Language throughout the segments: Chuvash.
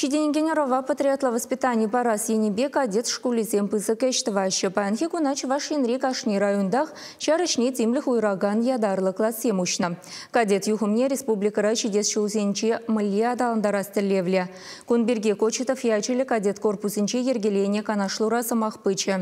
Ҫитӗнекен ӑрӑва патриотла воспитани парас енӗпе кадет шкулӗсем пысӑк ӗҫ тӑваҫҫӗ. Паянхи куна Чӑваш Енри кашни районтах ҫар ӗҫне тимлӗх уйӑракан ятарлӑ классем уҫнӑ. Кадет юхӑмне республикӑра ҫитес ҫулсенче мӗнле аталантарас тӗллевлӗ. Кун пирки Кочетов ячӗллӗ кадет корпусӗнче йӗркеленӗ канашлура сӑмах пычӗ.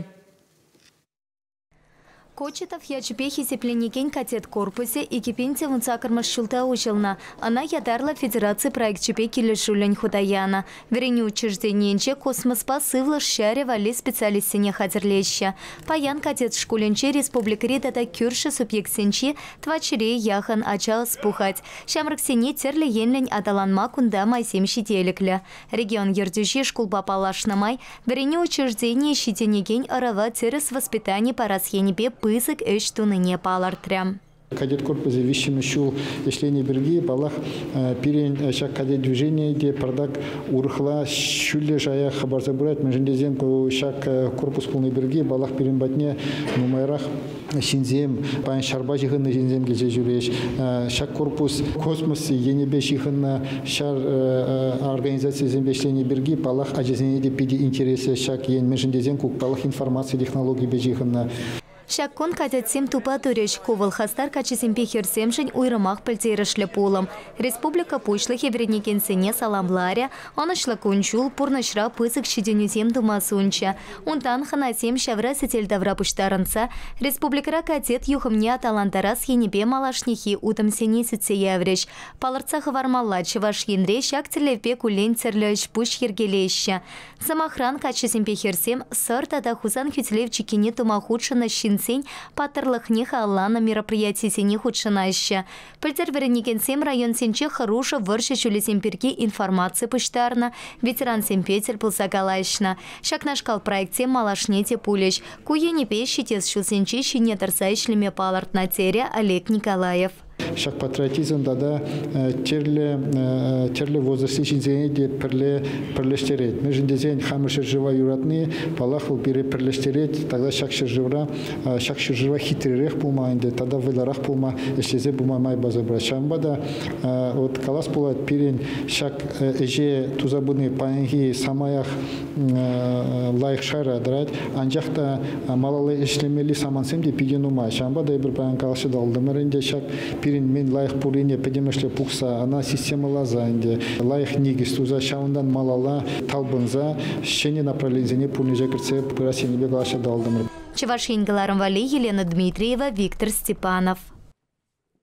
Кочетов ячӗпе хисепленекен кадет корпусӗ икӗ пин тӑвӑн сакӑрмӗш ҫулта уҫӑлнӑ. Ӑна ятарлӑ федераци проекчӗпе килӗшӳллӗн хута янӑ. Вӗренӳ учрежденийӗнче космоспа сывлӑш ҫарӗ валли специалистсене хатӗрлеҫҫӗ. Паян кадет шкулӗнче республикӑри тата кӳршӗ субъектсенчи тӑватҫӗре яхӑн ача ӑс пухать. Ҫамрӑксене тӗрлӗ енлӗн аталанма кунта майсем ҫителӗклӗ. Регион Ертӳҫи шкулпа паллашнӑ май вӗренӳ учрежденийӗ ҫитӗнекен ӑрӑва тӗрӗс воспитани парас енӗпе пысӑк ӗҫ тунине палӑртрӗ. Кадет корпусӗ виҫҫӗмӗш ҫул ӗҫленӗ пирки, паллах, пирӗн ҫак кадет движенийӗ те пӗртак урӑхла, ҫӳллӗ шая хӑпарса пырать, мӗншӗн тесен ку ҫак корпус пулни пирки, паллах, пирӗн патне нумайрах ҫынсем, паян ҫарпа ҫыхӑннӑ ҫынсем килсе ҫӳрӗҫ. Ҫак корпус космос енӗпе ҫыхӑннӑ ҫар организацийӗсемпе ӗҫлени пирки, паллах, ачасене те питӗ интереслӗ ҫак ен, мӗншӗн тесен ку, паллах, информаци технологийӗпе ҫыхӑннӑ. Ҫак кун кадетсем тупа турӗҫ. Ку вӑл хастар каччӑсемпе хӗрсемшӗн уйрӑмах пӗлтерӗшлӗ пулӑм. Республика Пуҫлӑхӗ вӗренекенсене саламларӗ, ӑнӑҫлӑ кун-ҫул, пурнӑҫра пысӑк ҫитӗнӳсем тума сунчӗ. Унтан хӑнасем ҫавра сӗтел тавра пуҫтарӑнса республикӑра кадет юхӑмне аталантарас енӗпе малашнехи утӑмсене сӳтсе яврӗҫ. Палӑртса хӑвармалла, Чӑваш Енре ҫак тӗллевпе куллен тӗрлӗ ӗҫ-пуҫ йӗркелеҫҫӗ. Сӑмахран, каччӑсемпе хӗрсем Сӑр тата Хусан хӳтӗлев чиккине тума хутшӑннӑ ҫынсен паттӑрлӑхне халалланӑ мероприятисене хутшӑнаҫҫӗ. Пӗлтӗр вӗренекенсем районсенче хӑрушӑ вӑрҫӑ ҫулӗсем пирки информаци пуҫтарнӑ, ветерансемпе тӗл пулса калаҫнӑ. Ҫакнашкал проектсем малашне те пулӗҫ. Ку енӗпе ҫитес ҫулсенче ҫине тӑрса ӗҫлеме палӑртнӑ, терӗ Олег Николаев. Ҫак патриотизм тата тӗрлӗ возрастри ҫынсене те пӗрле пӗрлештерет. Мӗншӗн тесен хамӑр ҫӗршыва юратни, паллах, вӑл пире пӗрлештерет. Тата ҫак ҫӗршывра Ҫак ҫӗршыва хитререх пулма ӗнтӗ тата вӑйлӑрах пулма ӗҫлесе пыма май парса пырать. Ҫавӑнпа та вот калас пулать пирӗн ҫак ӗҫе туса пыни паянхи самаях лайӑх шайра тӑрать, анчах та малалла ӗҫлемелли самантсем те питӗ нумай. Ҫавӑнпа та эпир паян калаҫса тӑвӑлтӑмӑр ӗнтӗ ҫак пирӗн мӗн лайӑх пуррине пӗтӗмӗшле пухса ӑна системӑласа ӗнтӗ лайӑх никӗс туса ҫавӑнтан малалла талпӑнса ҫӗнӗ направленисене пурнӑҫа кӗртсе пырас енӗпе калаҫса тӑвӑлтӑмӑр. Чӑваш Ен кӑларӑм валли Елена Дмитриева, Виктор Степанов.